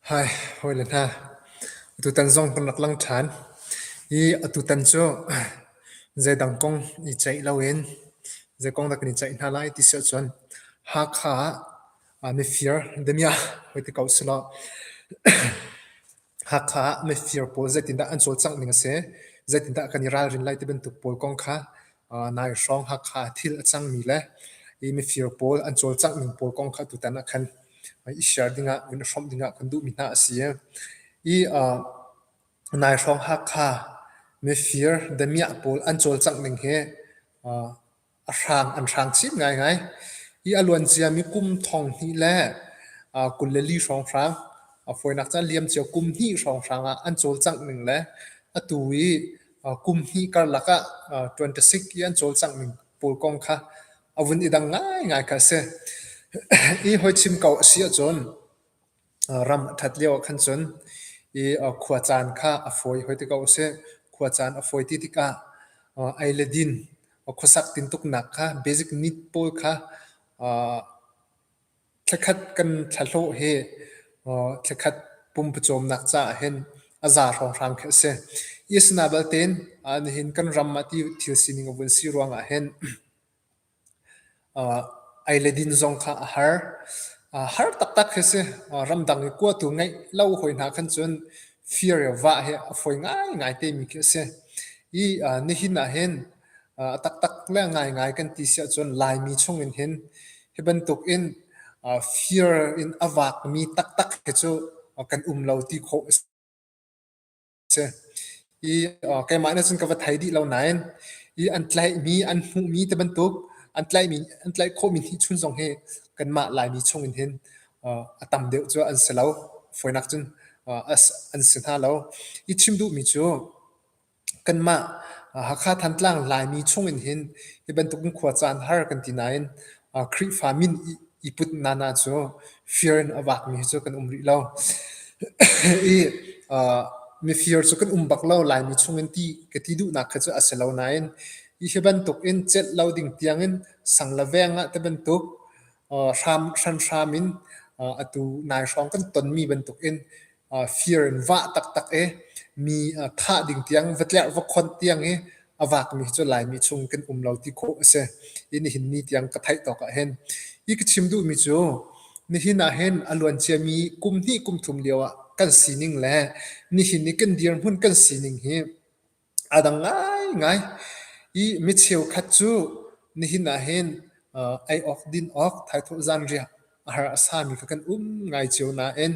Hawi le hna, atutan zong kan rak lang ṭhan i atutan cu zeidang kong i ceih loin zei kong dah kan i ceih hna lai ti si ahcun Hakha ah mifir damiah hoi ti ko selaw. Hakha ah mifir pawl zeitindah an cawlcangh ning a si? Zeitindah kan i ralrin lai ti bantuk pawl kong kha nai hrawng Hakha thil a cangmi le i mifir pawl an cawlcangh ning pawl kong kha tutan ah khan i share dingah in hrawmh dingah kan duhmi hna a si. I nai hrawng Hakha mifir damiah pawl an cawlcangh ning hi a hrang an hrang chin ngaingai i a luancia mi kum thong hnih le uh, kul le li hrawnghrang a fawinak caan liam cio kum hnih hrawnghrang ah an cawlcangh ning le atu i uh, kum hnih karlak ah uh, 26 i an cawlcangh ning pawl kong kha a vun i dang ngaingai kha a si i hoi chim ko a si ahcun Ram a ṭhat lioah khan cun i khua caan kha a fawi hoi ti ko a si. Khua caan a fawi ti tikah ei le din, khuasak tintuknak kha basic need pawl kha thlakhat kan thlahlawh hi thlakhat pumpawcawmnak caah hin a za hrawnghrang khi a si. Hi a si na balte in nihin kan ram ah ti thil sining a vun si ruangah hin Ei le din zong kha a har. har taktak hi a si. ramdang i kuatu ngeih lo hawi hna khan cun fir i vah hi a fawi ngaingai temi khi a si. I nihin ahhin a taktak le ngaingai kan ti si ahcun Laimi chungin hin hi bantukin fir in a vakmi taktak hi cu kan um lo ti khawh a si. si i uh, keimah nih cun ka va thei dih lo nain i an tlaihmi an hmuhmi te bantuk an tlaihmi an tlaih khawhmi hi chun zong hi kanmah laimi chungin hin uh, a tam deuh cu an si lo foinak cun uh, as an si hna lo i chim duhmi cu kanmah Hakha Thantlang Laimi chungin hin hi bantuk in khua caan har kan ti nain Khrihfa min i put nana cu fir in a vakmi hi cu kan um rih lo. I mifir cu kan um bak lo. Laimi chungin ti ka ti duhnak kha cu a si lo nain hi bantukin celh lo ding tiangin sang le veng ah ti bantuk hram hran hram in atu nai hrawng kan tonmi bantukin fir in vah taktak i mi thah ding tiang va tlerh va khonh tiang i a vaakmi hi cu Laimi chung kan um lo ti khawh a si i nihin ni tiang ka theih tawk ahhin hi ka chim duhmi cu nihin ahhin a luanciami kum hnih kum thum lio ah kan sining le nihin i kan dirhmun kan sining hi a dang ngaingai. Hi mi cheukhat cu nihin ahhin ei awk, din awk, thaithawh zanriah a har a sami kha kan um ngai cio nain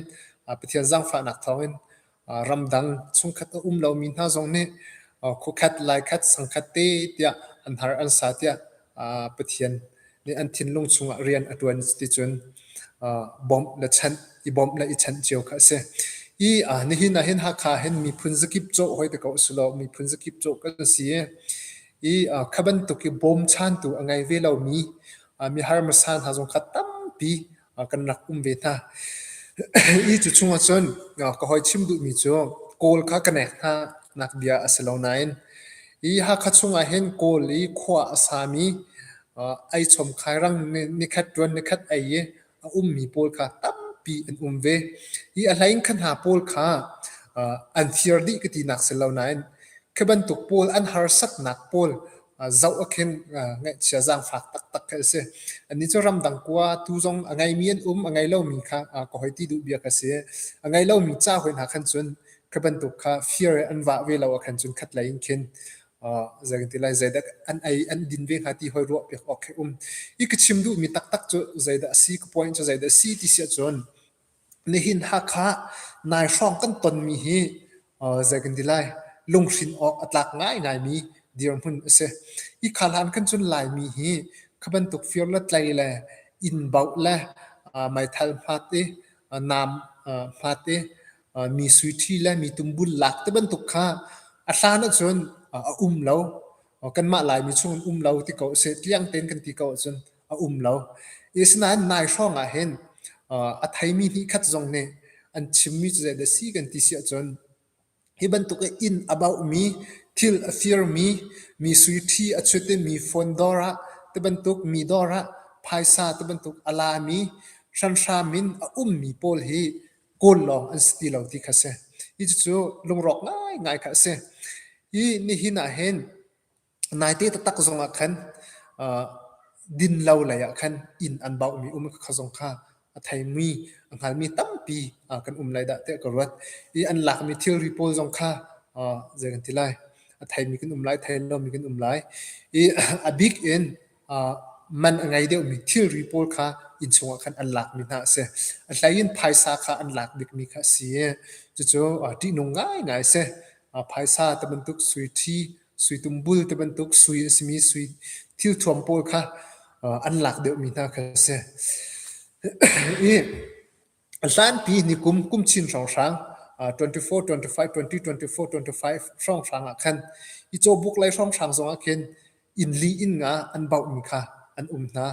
Pathian zaangfahnak thawngin ramdang chungkhat a um lomi hna zong nih khuakhat, laikhat, sangkhat te tiah an har an sa tiah Pathian nih an thinlung chungah rian a ṭuan ticun bawmh le chanh i bawmh le i chanh cio kha a si. I nihin ahhin Hakha hin miphun zakip cawh hoi te ko u sih law miphun zakip cawh kan si i kha bantuk i bawmchantu a ngei ve lomi mi harmasa hna zong kha tampi kan rak um ve hna. Hi cu chungah cun ka hoi chim duhmi cu kawl kha ka nek hna nak bia a si lo nain hi Hakha chungah hin kawl i khua a sami ai chom khairang nikhat tuan nikhat ei i a ummi pawl kha tampi an um ve. Hi a hlei in kha hna pawl kha an fir dih ka tinak si lo nain khi bantuk pawl an harsatnak pawl zoh a khin ngaihchia zaangfak taktak khi a si. Anih cu ramdang kua tu zong a ngeimi an um, a ngei lomi kha ka hoi ti duh biak a si. A ngei lomi ca hoi hna khan cun khi bantuk kha fear an vah ve lo ah khan cun khatlei in khin zeitin lai zeidah an ei an din ve hnga ti hoi ruah piak awk khi um. I ka chim duhmi taktak cu zeidah a si, ka point cu zeidah a si ti si ahcun Nihin Hakha nai hrawng kan tonmi hi zei kan ti lai lunghrin awk a tlak ngaingaimi dirhmun a si. Hi khaahlan kan cun Laimi hi kha bantuk fir le tlei le inn bauh le meithal hmat i naam hmat i mi suiṭhi le mi tumbul lak ti bantuk kha a hlan ahcun a um lo. Kanmah Laimi chung an um lo ti ko a si. Tliang tein kan ti ko ahcun a um lo. Asinain nai hrawngah hin a theimi nih khat zong nih an chimmi cu zeidah si kan ti si ahcun hi bantuk i inn a bauhmi thil a firmi mi suiṭhi a chut i mi phone dawr ah ti bantuk mi dawr ah phaisa ti bantuk a lami hranhram in a ummi pawl hi kawl lawng an si ti lo ti kha si. Hi cucu lungrawk ngaingai kha a si. Hi nihin ah hin Naite taktak zong ah khan uh, dinlo lei ah khan inn an bauhmi um kha zong kha a theimi a hngalmi tampi uh, kan um lai dah tiah ka ruat i an lakmi thilri pawl zong kha uh, zei kan ti lai a theimi kan um lai thei lomi kan um lai i a bik in uh, man a ngei deuhmi thilri pawl kha inn chungah khan an lakmi hna a si a hleiin phaisa kha an lak bikmi kha a si i cucu uh, ṭihnung ngaingai si uh, phaisa ta bantuk sui ṭhi Suitum bul ti bantuk sui a simi sui thil thuam pawl kha an lak deuhmi hna kha a si. I hlanpi nikum kum chin hrawnghrang 24, 25, 20, 24, 25 hrawnghrang ah khan i cawbuk lei hrawnghrang zongah khin inn li inn nga an bauhmi kha an um hna.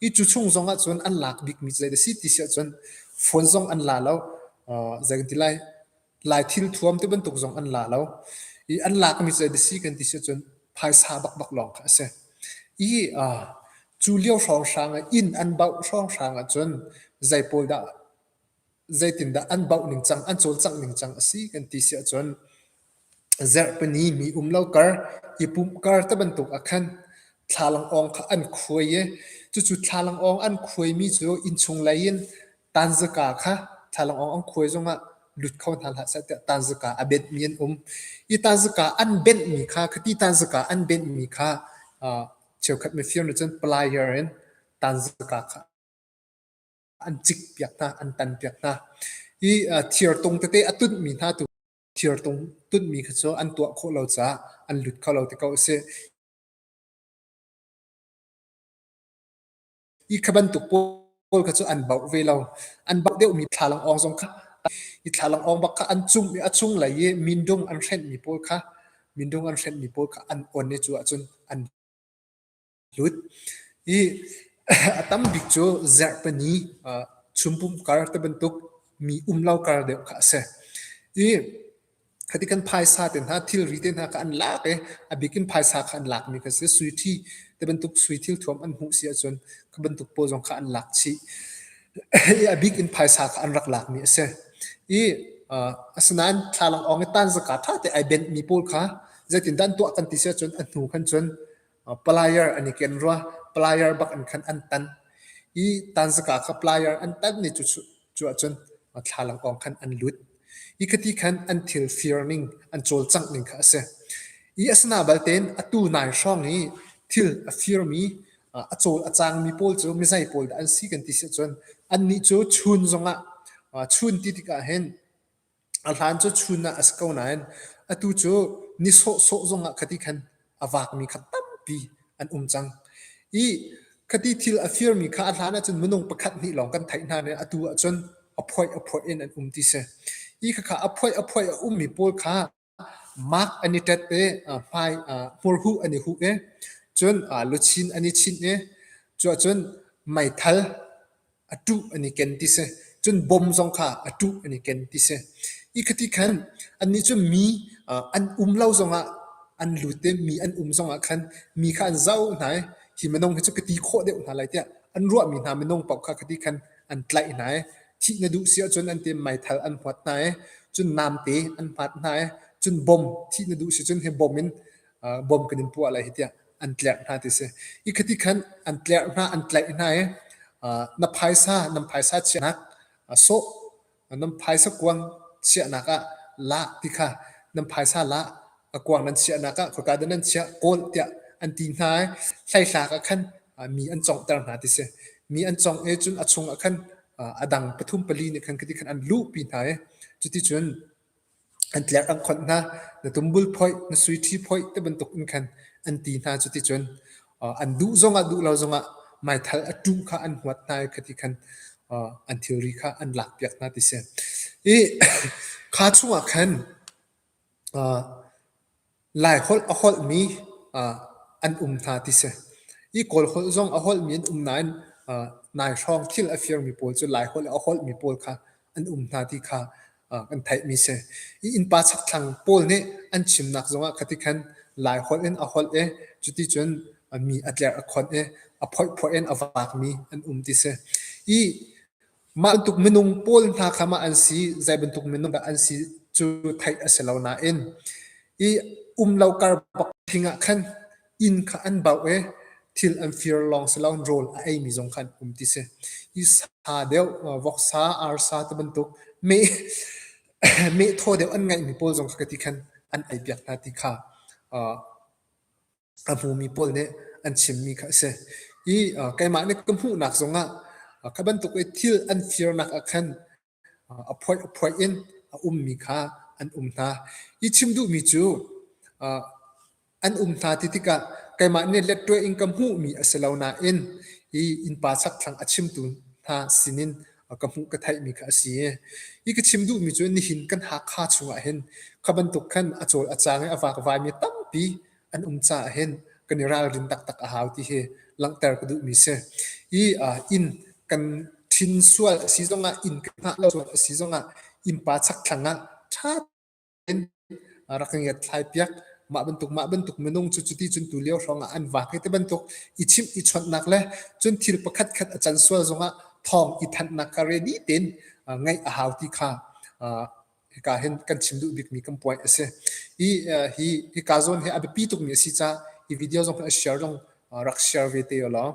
I cu chung zong ah cun an lak bikmi cu a si ti si ahcun phone zong an la lo. Uh, zei kan ti lai, lai thil thuam ti bantuk zong an la lo. I an lakmi cu a si kan ti si ahcun phaisa bakbak lawng kha a si. I uh, cu lio hrawnghrang ah inn an bauh hrawnghrang ahcun zei pawl dah zeitindah an bauh ningcang, an cawlcangh ningcang a si kan ti si ahcun Zerhpini mi um lo kar, i pumh kar te bantuk ah khan thlalangawng kha an khuai i cucu thlalangawng an khuaimi cu innchung lei in tanzika kha thlalangawng an khuai zongah lut kho hna hlah seh tiah tanzika a benhmi an um. Hi tanzika an benhmi kha, khiti tanzika an benhmi kha uh, cheukhat mifir nih cun player in tanzika kha an cik piak hna an tan piak hna i thir tung tete a tunhmi hna tu thir tung tunhmi kha cu an tuah khawh lo caah an lut kho lo ti ko a si i kha bantuk pawl kha cu an bauh ve lo an bauh deuhmi thlalang awng zong kha i thlalang awng bak kha an cung a chung lei i mindung an hrenhmi pawl kha mindung an hrenhmi pawl kha an on i cu ahcun an a lut i a tam bik cu zerhpani chumpum kar te bantuk mi umlo kar deuh kha a si i khati kan phaisa te hna thilri te hna kha an lak i a bikin phaisa kha an lakmi kha si suithi te bantuk suithil thuam an hmuh si ahcun kha bantuk pawl zong kha an lak chih i a bik in phaisa kha an rak lakmi a si i asinain thlalak awng i tan zaka ṭha te ai benh mi pawl kha zeitindah an tuah kan ti si ahcun a hnu khan cun Player an i ken rua. Player bak in khan an tan. I tanzaka kha player an tan ni cu cu ahcun thlalangkong khan an lut. Hi khati khan an thil fir ning, an cawlcangh ning kha a si. I asana balte atu nai hrawng i thil a firmi, a cawl a cangmi pawl cu mizei pawl dah an si kan ti si ahcun annih cu chun zongah, chun ti tikah hin A hlan cu chun ah a si ko nain atu cu ni sawhsawh zong ah khati khan a vaakmi kha tampi an um cang. I khati thil a firmi kha a hlan ahcun minung pakhat hnih lawng kan theih hna nain atu ahcun a phoih a phoih in an um ti si. Hi khakha a phoih a phoih a ummi pawl kha Mark an i ṭet i hmai hmurhuh an i huh i cun luchin an i chinh i cuahcun meithal a ṭuh an i ken ti si. Cun bom zong kha a ṭuh an i ken ti si. Hi khiti khan annih cu mi an um lo zongah an lut i mi an um zongah khan mi kha an zoh hna i hi minung hi cu ka ti khawh deuh hna lai tiah an ruahmi hna minung paoh kha khiti khan an tlaih hna i thih na duh si ahcun an ti meithal an huat hna i cun namte an hmat hna i cun bom thih na duh si cun hi bom in bom kan in puah lai hi tiah an tlerh hna ti si i khati khan an tlerh hna an tlaih hna i na phaisa nan phaisa chiahnak sawh Nan phaisa kuang chiahnak ah lah ti kha nan phaisa lah a kuang nan chiahnak ah khoika dah nan chiah kawl tiah an ti hna i thlaithlak ah khan mi an conghter hna ti si mi an cong i cun a chung ah khan a dang pathum pali nih khan khiti khan an luhpi hna i cuti cun An tlerh an khonh hna, na tumbul phoih, na sui-ṭhi phoih tibantukin khan an ti hna. Cuticun an duh zongah duh lo zongah meithal a ṭum kha an huat hna i khiti khan an thilri kha an lakpiak hna, ti a si. I kha chungah khan Laiholh a holhmi an um hna ti si. I Kawlholh zong a holhmi an um nain nai hrawng thil a firmi pawl cu Laiholh a holhmi pawl kha an um hna ti kha kan theihmi si. I innpa chakthlang pawl nih an chimnak zongah khati khan Laiholh in a holh i cuticun mi a tlerh a khonh i a phoihphoih in a vakmi an um ti si. I Mah tluk minung pawl hna kha mah an si, zei bantuk minung dah an si cu theih a si lo nain i um lo kar bak thing ah khan inn kha an bauh i thil an fir lawng si loin rawl a eimi zong kha an um ti si. Hi sa deuh, voksa, arsa ti bantuk meh meh thaw deuh an ngeihmi pawl zong kha ti khan an ei piak hna ti kha uh, a hmumi pawl nih an chimmi kha a si. I keimah nih ka hmuhnak zongah kha bantuk i thil an firnak ah khan a phoih a phoih in a ummi kha an um hna. I chim duhmi cu an um hna ti tikah keimah nih letwe in ka hmuhmi a si lo nain i innpa chakthlang a chimtu hna sinin ka hmuh ka theihmi kha a si i i ka chim duhmi cu nihin kan Hakha chungah hin kha bantuk khan a cawl a cang i a vakvaimi tampi an um caah hin kan i ralrin taktak a hau ti hi langhter ka duhmi si. I uh, inn kan thin sual a si zongah inn kan hngah lo sual a si zongah innpa chak thlang ah ṭha in rak ka ngiat thlai piak mah bantuk mah bantuk minung cu cuti cun tu lio hrawngah an vak hi te bantuk i chim i chonnak le cun thil pakhat khat a can sual zongah thawng i thannak ka ready ten ngaih a hau ti kha hika hin kan chim duh bikmi kan point a si. Hi hi hika zawn hi a biapi tukmi a si caah hi video zong a share zong rak share ve te u law.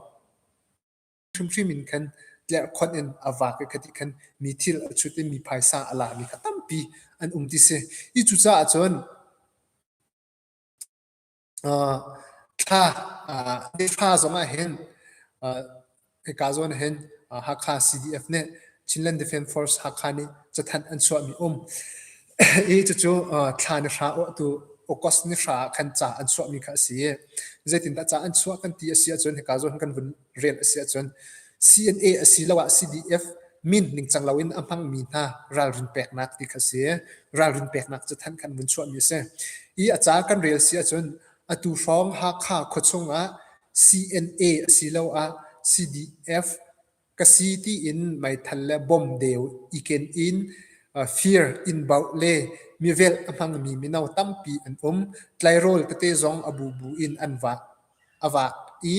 Hrimhrim in khan tlerhkhonh in a vak i khati khan mi thil a chut i mi phaisa a la mi kha tampi an um ti si. Hi cucaah cun uh, thla uh, nifa zongah hin uh, eka zawn hin uh, Hakha CDF ne Chinland Defence Force Hakha ni chathan an chuah mi um i cucu uh, thla ni hra o tu August ni hra kan cha an chuah mi kha asi zeitin da cha an chuah kan ti asi ahcun heka zawn kan vun rian a si ahcun CNA asiloah CDF min ningcang loin a hmangmi hna ralrin peknak ti kha si. Ralrin peknak cu thanh khan vun chuahmi a si. I a ca kan rel si ahcun atu hrawng Hakha khuachung ah CNA asiloah CDF ka si tiin meithal le bom deu iken in fir in bauh le mivel a hmangmi mino tampi an um. Tlairawl tete zong a bubu in an vah. a vak i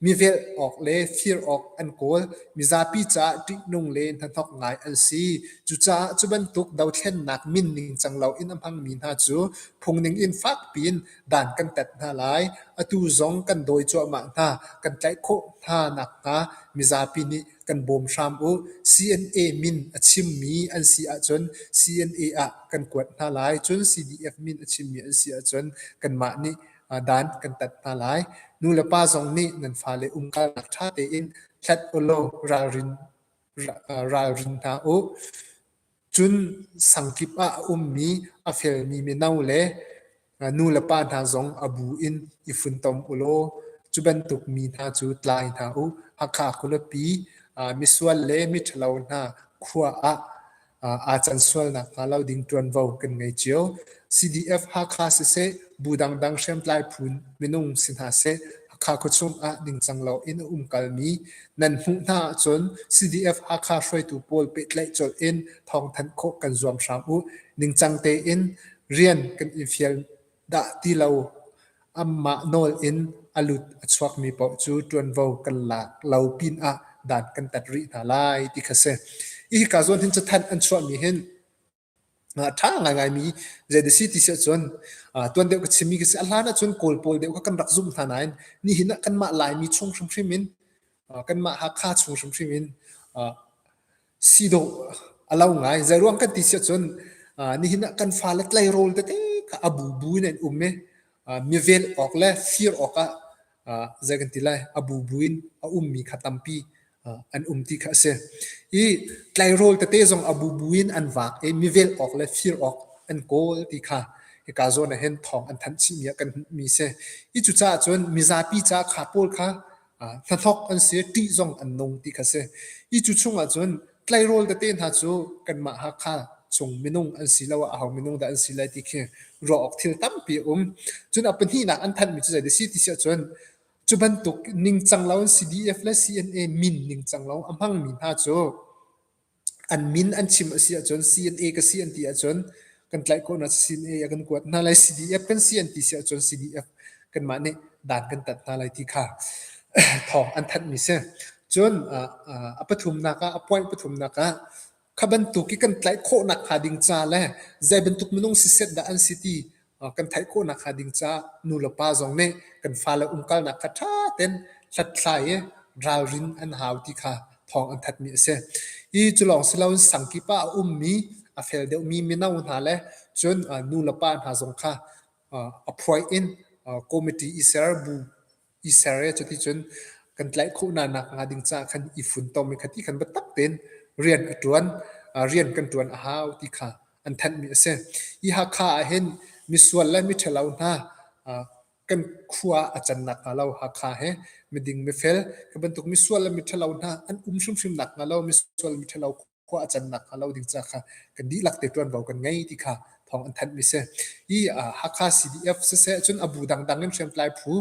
mivelh awk le fir awk an kawl. Mizapi caah ṭihnung le hnahnok ngai an si. Cucaah cu bantuk dothlennak min ningcang loin a hmangmi hna cu phungning in fakpi in dan kan tat hna lai. Atu zong kan dawi cuahmah hna, kan tlaih khawh hna nakhnga mizapi nih kan bawm hram u. CNA min a chimmi an si ahcun CNA ah kan kuat hna lai. Cun CDF min a chimmi an si ahcun kanmah nih dan kan tat hna lai. Nu le pa zong nih nan fale umkalnak ṭha tein hlat ulaw ralrin ralrin hna u. Cun sangkip ah a ummi a felmi mino le nu le pa hna zong a bu in i funtom ulaw cu bantuk mi hna cu tlai hna u. Hakha khuapi, misual le miṭhalo hna khua ah aa can sual nakhnga lo ding ṭuanvo kan ngei cio. CDF-Hakha siseh, bu dangdang hriamtlai phun minung si hna seh, Hakha khuachung ah ningcang loin a umkalmi nan hmuh hna ahcun CDF-Hakha hruaitu pawl pehtlaih colh in thawng thanh khawh kan zuam hram u. Ningcang tein rian kan i fial Dah ti lo, anmah nawl in a lut a chuakmi paoh cu ṭuanvo kan lak lo pinah dan kan tat rih hna lai ti kha si. Hika zawn hin cathanh an chuahmi hin a ṭha ngaingaimi zeiti si ti si ahcun tuan deuh ka chimmi khi si a hlan ahcun Kawl pawl deuh kha kan rak zumh hna nain nihin ah kanmah Laimi chung hrimhrim in kanmah Hakha chung hrimhrim in si dawh a lo ngai. Zeiruang kan ti siah cun uh, nihin ah kan fale tleirawl tete kha a bubu in an um i uh, mivel awk le fir awkah uh, zei kan ti lai a bubu in a ummi kha tampi uh, an um ti kha a si. I tleirawl tete zong a bubu in an vak i mivel awk le fir awk an kawl ti kha hika zawn ah hin thawng an thanh chihmi ah kan hmuhmi si. I cucaah cun mizapi ca kha pawl kha hnathawk an si, ṭih zong an nung ti kha si. I cu chungah cun tleirawl tete hna cu kanmah Hakha chung minung an siloah aho minung dah an si lai ti khi ruah awk thil tampi a um. Cun a pahnihnak an thanhmi cu zei a si ti si ahcun cu bantuk ningcang lo an si, DF le CNA min ningcang lo a hmangmi hna cu an min an chim a si ahcun CNA ka si an ti ahcun kan tlaih khawhnak CNA a kan kuat hna lai. CDF kan si an ti si ahcun CDF kanmah nih dan kan tat hna lai ti kha thawng an thanhmi si. Cun a pathumnak ah, a point pathumnak ah kha bantuk i kan tlaih khawhnak hnga ding ca le zei bantuk minung si set dah an si ti kan theih khawhnak hnga ding caah nu le pa zong nih kan fale umkalnak kha ṭha ten hlathlai i ralrin an hau ti kha thawng an thatmi a si. Hi cu lawng si loin sangkip ah a ummi a fel deuhmi mino hna le cun nu le pa hna zong kha a phuai in committee i ser bu i ser i cuticun kan tlaih khawh hna nak hnga ding caah khan i funtom i khati khan biatak tein rian a ṭuan rian kan ṭuan a hau ti kha an thanhmi a si. Hi Hakha ah hin misual le miṭhalo hna kan khua a can nakhnga lo Hakha he miding mifel hi bantuk misual le miṭhalo hna an um hrimhrim nakhnga lo misual miṭhalo khua a cannak hnga lo ding ca kha kan dihlak te ṭuanvo kan ngei ti kha thawng an thanh mi si i Hakha CDF siseh cun abu dangdang in hriamtlai phu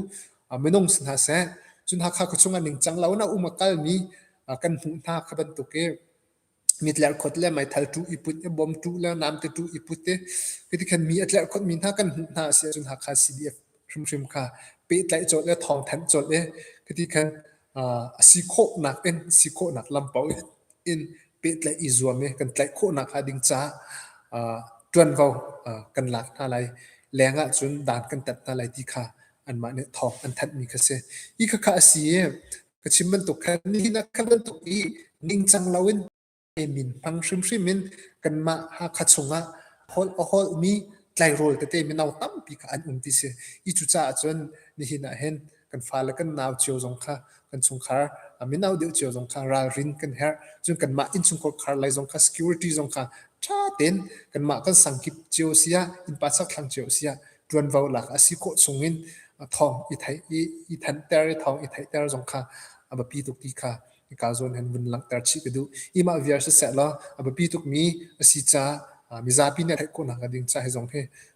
minung si hna seh cun Hakha khuachung ah ningcang lo na um a kal mi kan hmuh hna kha bantuk i mitler khot le meithal tu i put i bom tu le nam te tu i put i hiti khan mi atler khot mi hna kan hmuh hna si cun Hakha CDF hrimhrim kha pehtlaih cawlh le thawng thanh cawlh i hiti khan a si khawhnak in si khawhnak lampo in pehtlaih i zuam i kan tlaih khawhnak hnga ding caah uh, ṭuanvo uh, kan lak hna lai leng ah cun dan kan tat hna lai ti kha anmah nih thawng an thanhmi kha si i khakha a si e ka chim bantuk khan nihin khan bantuk i ningcang loin min hmang hrimhrim in kanmah hakha chungah hol a hol mi tlairawl tete mi no tampi kha an um ti si i cucaah cun nihin ah hin kan fale kan nau cio zong kha kan chungkhar a minau deuh cio zong kha ralrin kan herh cun kanmah innchungkhar khar lai zong kha security zong kha tha ten kanmah kan sangkip cio sia innpa sak thlang cio sia tuanvo lak asi ko chungin thong i thai i i than ter i thong i thai ter zong kha abapi tuk ti kha ka zon han vun lang ter chi ka du ima viar se se la abapi tuk mi asi cha mizapi ne thai ko na ka ding cha he zong he